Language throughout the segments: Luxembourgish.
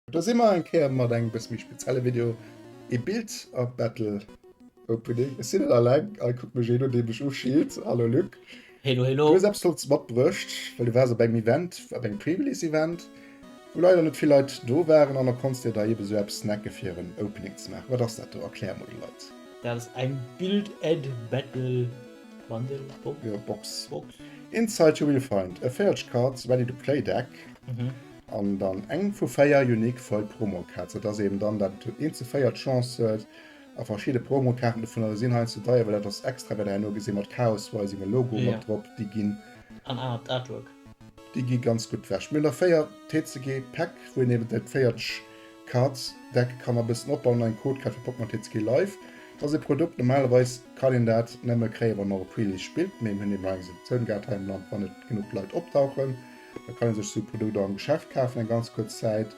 Da si mer eng Kéier mat engem bësse méi spezielle Video, ee Bild-Art-Battle. Opening. Ech sinn net alleng. Hei kuckt mech een un, dee mech uschillt. Hallo Luc. Helo, helo. Du hues eppes Flottes matbruecht, well du waars op engem Event, op engem Pre-Release-Event, wou leider net vill Leit do waren, an da konntst dir der eeben esou eppes snacken, fir en Opening ze maachen. Wat ass dat do? Erklär emol de Leit. Dat ass eng Build-Add-Battle-Bundle, Box? Jo, Box. Box. Inside you will find a Feelage-Cards Ready-to-Play Deck an dann eng vu véier Unique Foil Promo-Cards. Dat ass eeben dann dat, eent zu véier d'Chance huet, A verschidde Promokaarten dovunner sinn heiansdo deier, well dat ass extra, wat der herno gesitt mat Chaos Wei sengem Logo mat drop, déi ginn. An anert Artwork. Déi gi ganz gutt wech. Mir hunn der véier TCG Päck, wou een eben dat véierteg Card Deck kann a bëssen opbauen an eng Code kräift fir Pokémon TCG Live. Dat ass ee Produkt, normalerweis kann een dat nëmme kréien, wann een och op Release spillt, mee mir hunn eben nach eng Exceptioun gehat hei am Land, wann net genuch Leit opdauchen, da kann ee sech esou Produkt och am Geschäft kafen eng ganz kuerz Zäit.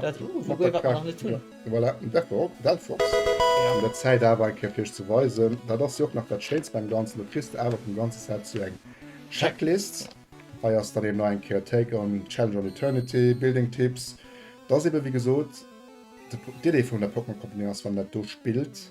Dat gouf awer nach net vun. Voilà, Delphox. An der Zäit awer eng Kéier fir iech ze weisen, dat ass jo och nach dat Schéinst beim Ganzen, do kriss de awer vum ganze Set sou eng Checklist. Hei ass dann eben nach eng Kéier Take on Challenge on Eternity, Building Tips. Dat ass eben, wéi gesot, d'Idee vun der Pokémon Company ass, wann een dat do spillt,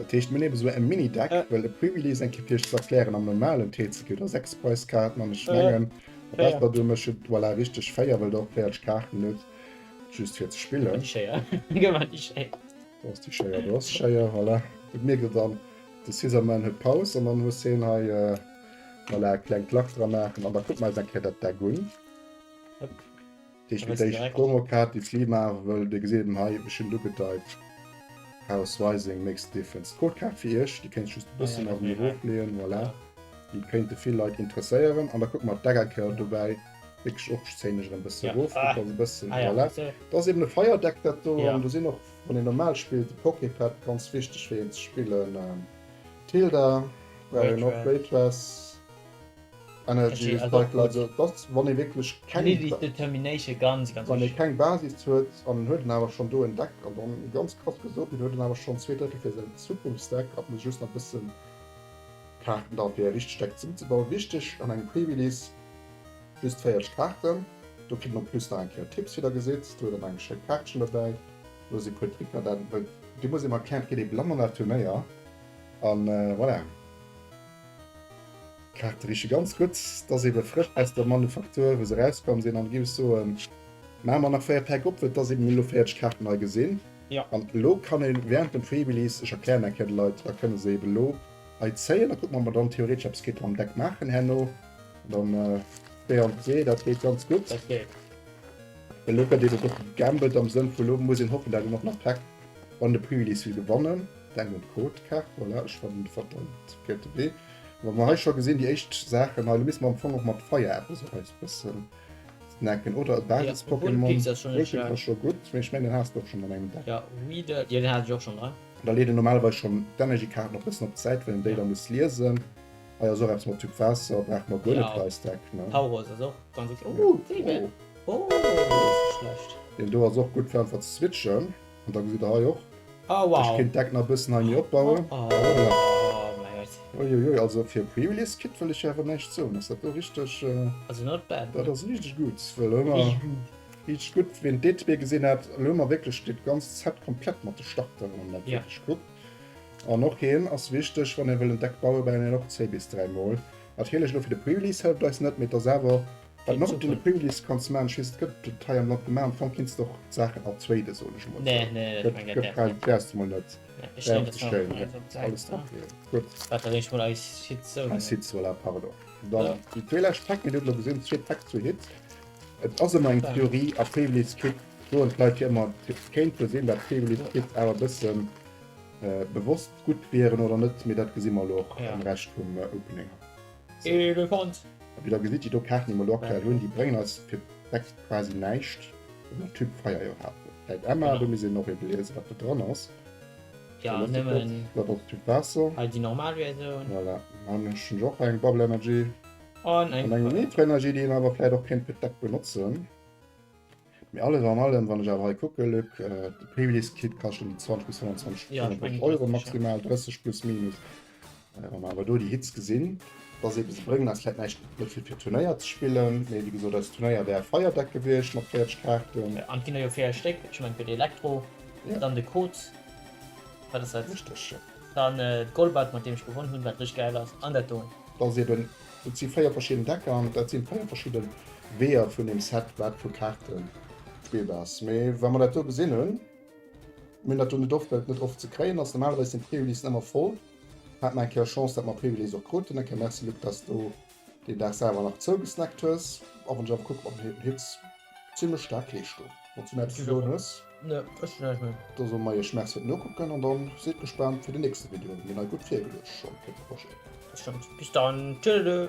Dat heescht mir nehmen sou en Mini Deck äh. well de Privilees eng Kéier fir iech ze erklären am normalen TCG der 6 Preiskaarten an ech mengen äh. dat wat do mécht voilà richteg 4 well der och 40 Kaarten hutt just fir ze spillen. Di Schéier gëtt mat di Schéier. Do ass di Schéier do ass Schéier voilà et mierkt der dann de Scissorman huet Paus an dann muss hien hei äh voilà e klengt Lach dra maachen an da kucke mer eis eng Kéier dat Deck un. Deeg mir déi Promo Kaart déi Flee maachen wëll. Dir gesitt et hei, ech hunn et ugedeid. House Rising makes a difference. D'Gold Kaart fir iech, déi kéint just e bëssen nach méi erof leeën. Voilà, déi kéinte vill Leit interesséieren. An da kucke mer op d'Decka Kaart dobäi, wierklech och zéihen ech erëm bëssen erof, kuckt also bëssen. Voilà, dat ass eben e Fire Deck dat do. An do sinn och, wann een normal spillt, e Poké Pad ganz wichteg fir een ze spillen. Tilda brauch een och, Great Wess. Energy is vital, also et ass wann ee wierklech keng Basis huet an en huet en awer schonn do en Deck an dann ganz krass gesot, deen huet en awer schonn zwee Drëttel fir säin Zukunftsdeck a muss just nach e bëssen Kaarten da fir e richtegt Deck zesummezebauen. Wichteg an engem Pre-Release, just 40 Kaarten, do kritt een en plus nach eng Kéier Tipps, wéi der gesitt, do huet der nach eng schéi Kaartchen dobäi, do si puer Tricker dat et wëllt. Dir musst eben erklären, et gëtt ee Blann an dat Turnéier an voilà. D'Kaarte riche ganz gutt, dass eben frësch aus der Manufaktur wou se rauskomm sinn an gi ech soen maan mer nach 4 Päck op, vu dass eben elo 40 Kaarten hei gesinn. Jo. An elo kann een während dem Freebilease, ech erklären eng Kéier de Leit, da kënne se eben elo hei zéien, da kucken ob mer dann theoretesch eppes kéinte mam Deck maachen herno, dann während se, dat geet ganz gutt. Dat geet. Well elo gëtt eben och gegambelt am Sënn vu elo muss een hoffen dat een och nach Päck wann de Preelease will gewannen. Denk un d'Côte Kaart. Voilà, ech fannen de verdammt gëtt. Wéi mer hei scho gesinn, déi éischt Saachen hei. Lo misse mer am Fong och mat Feier eppes op eis bëssen snacken oder e Basis-Pokémon. Vulpix ass scho gutt, mee ech mengen deen has de och schonn an engem Deck. Weeder, jo deen hat ech och schonn dran. Da leet een normalerweis schonn d'Energy-Kaarten och bëssen op d'Säit, well een déi da muss liesen. Hei ass och eppes mat Typ Waasser, brauche mer guer net fir eist Deck, ne? Tauros ass och ganz ok. Oh, Vebene! Oh, deen ass net schlecht. Deen do ass och gutt fir einfach ze switchen. An da gesitt der hei och. Oh wow! Ech kéint d'Deck nach e bëssen hei méi opbauen. Oh! Uiuiui, also fir e Pre-Release Kit wëll ech jo awer näischt soen, ass dat do richteg. Also not bad, ne? Dat ass richteg gutt, well elo hu mer. Richteg gutt. Richteg gutt, wien d'Detailler gesinn hat, elo hu mer wierklech dat ganzt Set komplett mat de Starteren an dat wierklech gutt. An och hie ass wichteg, wann ee wëll en Deck bauen, brauch een en och zwee bis dräi Mol. Natierlech elo fir de Pre-Release hëlleft eis net, mee et ass awer Wat nach op den Playlist kanns maan, just gëtt et hei am Land gemaan, an fannt kinns de och d'Saachen als Weide soen ech emol sou. Gëtt gräll, däers de mol net däerf bestellen, nee alles tranquille. Gutt wat der eech mol eis Hits soen. Eis Hits, voilà, pardon. Dann déi zwee lescht Track, mir hunn et elo gesinn, zwee Track, zwee Hits. Et ass ëmmer eng Theorie a Playlist Kick soen d'Leit jo ëmmer, et kéint jo sinn dat Playlist Kick awer e bësse bewosst gutt wieren oder net, mee dat gesi mer elo och am Rescht vum Opening. Elefant. Wéi der gesitt, déi do Kaarten, déi mer elo aktuell hunn, déi bréngen eis fir d'nächst quasi näischt, well den Typ Feier jo hat. Läit Emma, do misst een och eben liesen, wat do dran ass. Jo, nëmmen hei déi normal Versioun. Voilà, an ech hunn jo och hei eng Bubble Energy an eng Nitro Energy, déi een awer vläit och kéint fir d'Deck benotzen. Mee alles an allem, wann ech awer hei kucke, Luc, de Playliskit kascht ëm déi 20 bis 25, 25 Euro maximal, 30 plus minus. Wa mer awer do déi Hits gesinn, da seet ee, se bréngen eis vläit näischt, net fir fir Turnéier ze spillen, mee wéi gesot, eis Turnéier wäre feierdeck gewiescht mat 40 Kaarten. An et ginn der jo véier Stéck, ech mengen, fir de Elektro, dann de Kot, wat ass dat? Richteg, jo. Dann d'Golbert, mat deem ech gewonn hunn, wat richteg gäil ass, an dat do. Da seet en, Et si véier verschidden Decker an dat sinn véier verschidden Weeër vun dem Set wat vu Kaarten d'Bild ass. Mee wa mer dat do gesinn hunn, mir hunn dat do net oft well et net oft ze kréien ass, normalerweis sinn d'Pré-Ulyssen ëmmer voll, haat mer eng Kéier Chance dat mer Pré-Ulysse och kruten. Eng Kéier merci Luc dass du deen Dag selwer nach zougesnackt hues, a wann ech awer kucken op den Hit, Zimlech staark Leeschtung. Wann's du näischt ze soen hues. Ne ech hunn näischt méi. Da soe mer iech Merci fir den Nokucken an dann sidd gespaant fir den nächste Video, mir hunn hei gutt virgeluecht schonn fir de Projet. Dat stëmmt. Bis dann. Tëdelö.